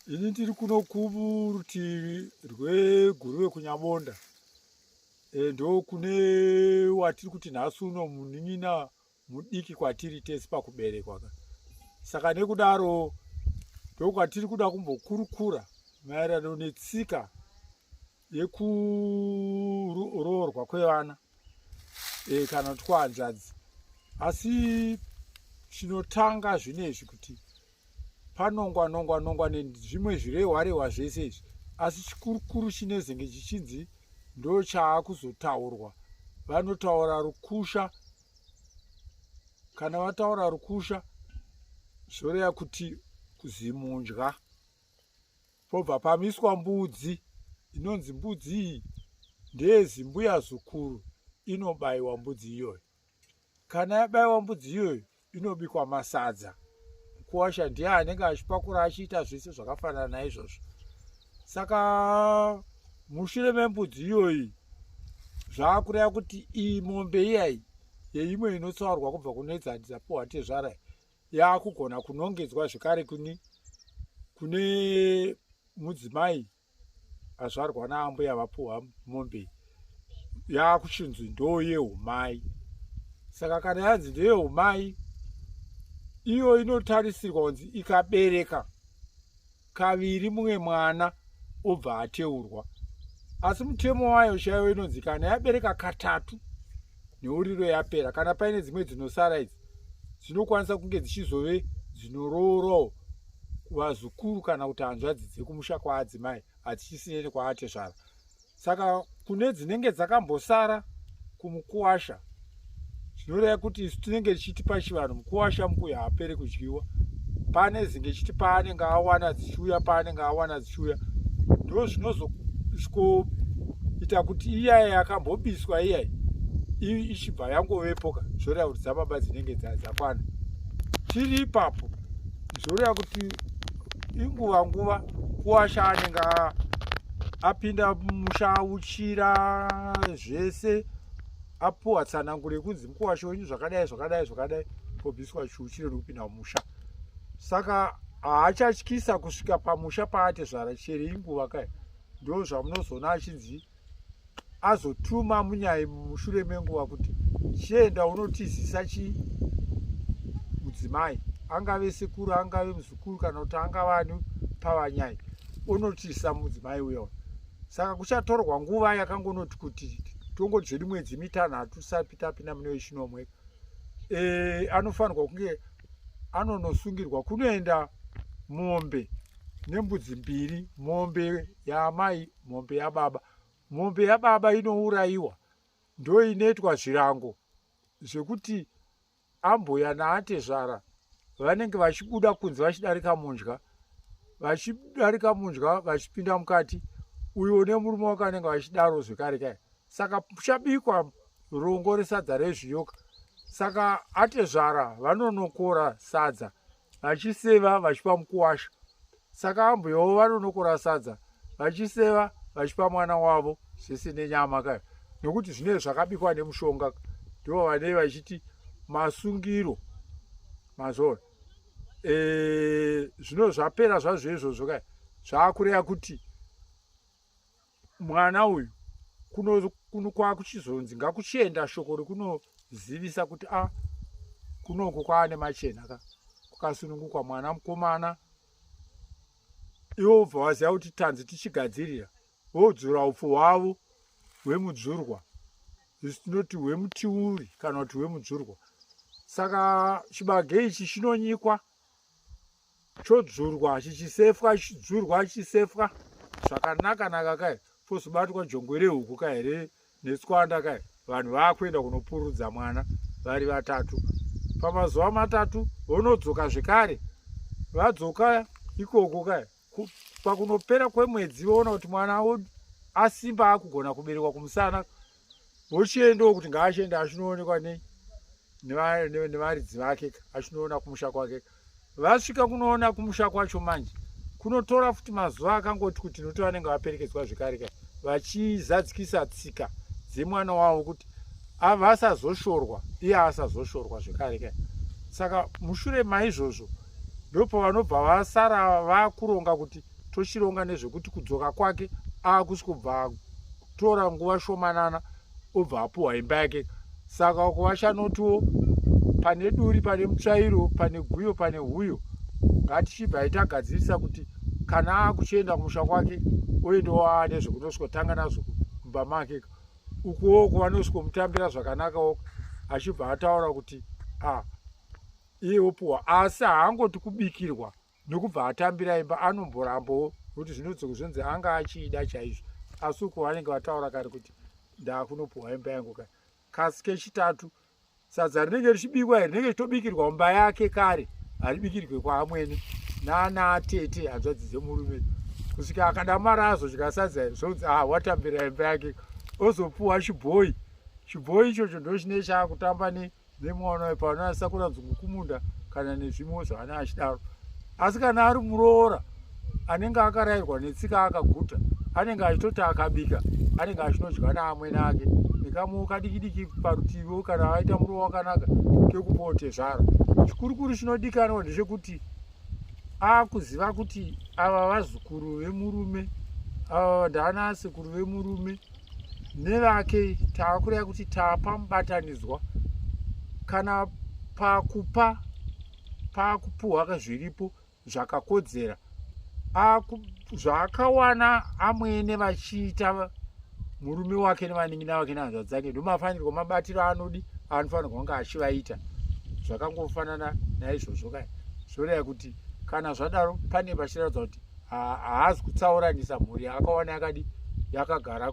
ini ndiri kuno kurutivi rweguruve kunyabonda e, ndo kune watiri kuti nhasi uno munin'ina mudiki kwatiri tese pakuberekwa ka saka nekudaro ndokwatiri kuda kumbokurukura maererano netsika yekuroorwa kwevana e, kana kuti kwahanzvadzi asi chinotanga zvine izvi kuti panongwa nongwa nongwa nezvimwe zvirehwarehwa zvese izvi asi chikurukuru chinezenge chichinzi ndo chaakuzotaurwa vanotaura rukusha kana vataura rukusha zvoreva kuti kuzimunja pobva pamiswa mbudzi inonzi mbudzi iyi ndeyezimbuya zukuru inobayiwa mbudzi iyoyo kana yabayiwa mbudzi iyoyo inobikwa masadza mukuwasha ndiye anenge achipakura achiita zvese zvakafanana naizvozvo saka mushure membudzi iyoyi zvaakureva kuti iyi mombe iyayi yeimwe inotsaurwa kubva kunoedzanisa pohatezvara yakugona kunongedzwa zvekare kune kune mudzimai azvarwa naambuya vapuhwa mombe yakuchinzi ndoo yeumai saka kana yanzi ndeyeumai iyo inotarisirwa kunzi ikabereka kaviri mumwe mwana obva ateurwa asi mutemo wayo chaiyo inonzi kana yabereka katatu neuriro yapera kana paine dzimwe dzinosara idzi dzinokwanisa kunge dzichizove dzinoroorawo vazukuru kana kuti hanzvadzi dzekumusha kwaadzimai hadzichisiyeni kwaatezvara saka kune dzinenge dzakambosara kumukuwasha zvinoreva kuti isu tinenge tichiti pachivanhu mukuwasha mukuya haapere kudyiwa pane zinge chiti paanenge awana dzichiuya paanenge awana dzichiuya ndo zvinozosvikoita kuti iyaya yakambobiswa iyayi ichibva yangovepoka zvoreva kuti dzababa dzinenge dzakwana tiri ipapo zvoreva kuti inguva nguva kuwasha anenge apinda musha auchira zvese apuwa tsananguro yekunzi mukuwasha wenyu zvakadai zvakadai zvakadai kobviswa chiuchire nekupinda mumusha saka haachatyisa kusvika pamusha paatezvara chero inguva kai ndo zvamunozoona achinzi azotuma munyai mushure menguva kuti chienda unotizisa chii mudzimai angave sekuru angave muzukuru kana kuti angave ani pavanyai unotisa mudzimai uyo saka kuchatorwa nguva yakangonoti kuti tongoti zvedu mwedzi mitanhatu sapi tapinda mune wechinomwe e, anofanirwa kunge anonosungirwa kunoenda mombe nembudzi mbiri mombe yaamai mombe yababa mombe yababa inourayiwa ndo inoitwa zvirango zvekuti ambuya naatezvara vanenge vachibuda kunze vachidarika mundya vachidarika mundya vachipinda mukati uyo une murume wake anenge vachidaro zvekare kai saka puchabikwa rongo resadza rezviyoka saka atezvara vanonokora sadza vachiseva vachipa mukuwasha saka ambuyawo vanonokora sadza vachiseva vachipa mwana wavo sese nenyama ka nokuti zvinee zvakabikwa nemushonga ndivo vanei vachiti masungiro mazona zvino zvapera zvazvo izvozvo ka zvaakureya kuti mwana uyu kuno kuno kwakuchizonzi ngakuchienda shoko rekunozivisa kuti a ah, kunoko kwaane machena ka kukasunungukwa mwana mukomana iwo bva waziva kuti tanzi tichigadzirira vodzura upfu hwavo hwemudzurwa zvisinoti hwemutiuri kana kuti hwemudzurwa saka chibage ichi chinonyikwa chodzurwa chichisefwa chidzurwa chisefwa zvakanaka naka kai fozobatwa jongwe rehuku kai here netswanda kai vanhu vaakuenda kunopurudza mwana vari vatatu pamazuva matatu vonodzoka zvekare vadzoka ikoko kai pakunopera kwemwedzi voona kuti mwana asimba akugona kuberekwa kumusana vochiendawo kuti ngaachienda achinoonekwa nei nevaridzi vake achinoona kumusha kwake vasvika kunoona kumusha kwacho manje kunotora futi mazuva akangoti kuti noti vanenge vaperekedzwa zvekare ka vachizadzikisa tsika dzemwana wavo kuti avasazoshorwa iye asazoshorwa zvekare ka saka mushure maizvozvo ndopo vanobva vasara vakuronga kuti tochironga nezvekuti kudzoka kwake akusi kubva tora nguva shomanana obva apuhwa imba yake saka uko vachanotiwo pane duri pane mutsvairo pane guyo pane huyo ngatichibvai tagadzirisa kuti kana akuchienda kumusha kwake oendawo aane zvekunoswotanga nazvo kumba make ukuwo kuvanoswomutambira zvakanakawo achibva ataura kuti a ah, iye opuwa asi haangoti kubikirwa nokubva atambira imba anomborambawo nokuti zvinotsoka zvonzi anga achiida chaizvo asi uko vanenge vataura kare kuti ndakunopuwa imba yangu ka kasi kechitatu sadza rinenge richibikwa iri rinenge richitobikirwa mumba yake kare haribikirwe kwaamwene nana tete hanzvadzi dzemurume kusvika akadamara azodya sadza iri zvonzi ah watambira imba yake ozopuwa chibhoyi chibhoyi ichocho ndochine chaakutamba ne nemwana uyu pano asakura dzungu kumunda kana nezvimwe zvaana achidaro asi kana ari muroora anenge akarayirwa netsika akaguta anenge achitoti akabika anenge achinodya naamwene ake nekamwewo kadikidiki parutiviwo kana aita murowa wakanaka kekupote zvaro chikurukuru chinodikanwa ndechekuti akuziva kuti ava vazukuru vemurume ava ndavana asekuru vemurume nevake taakureva kuti taapamubatanidzwa kana pakupa paakupuhwaka zviripo zvakakodzera zvaakawana amwene vachiita murume wake nevanin'ina vake nehanzva dzake ndomafanirwa mabatiro anodi anofanirwa kunge achivaita zvakangofanana naizvozvo kaya zvoreva kuti kana zvadaro pane pachiratidza kuti haazi kutsauranisa mhuri yaakawana yakadi yakagara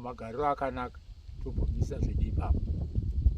magariro akanaka tobvumisa zvedi ipapo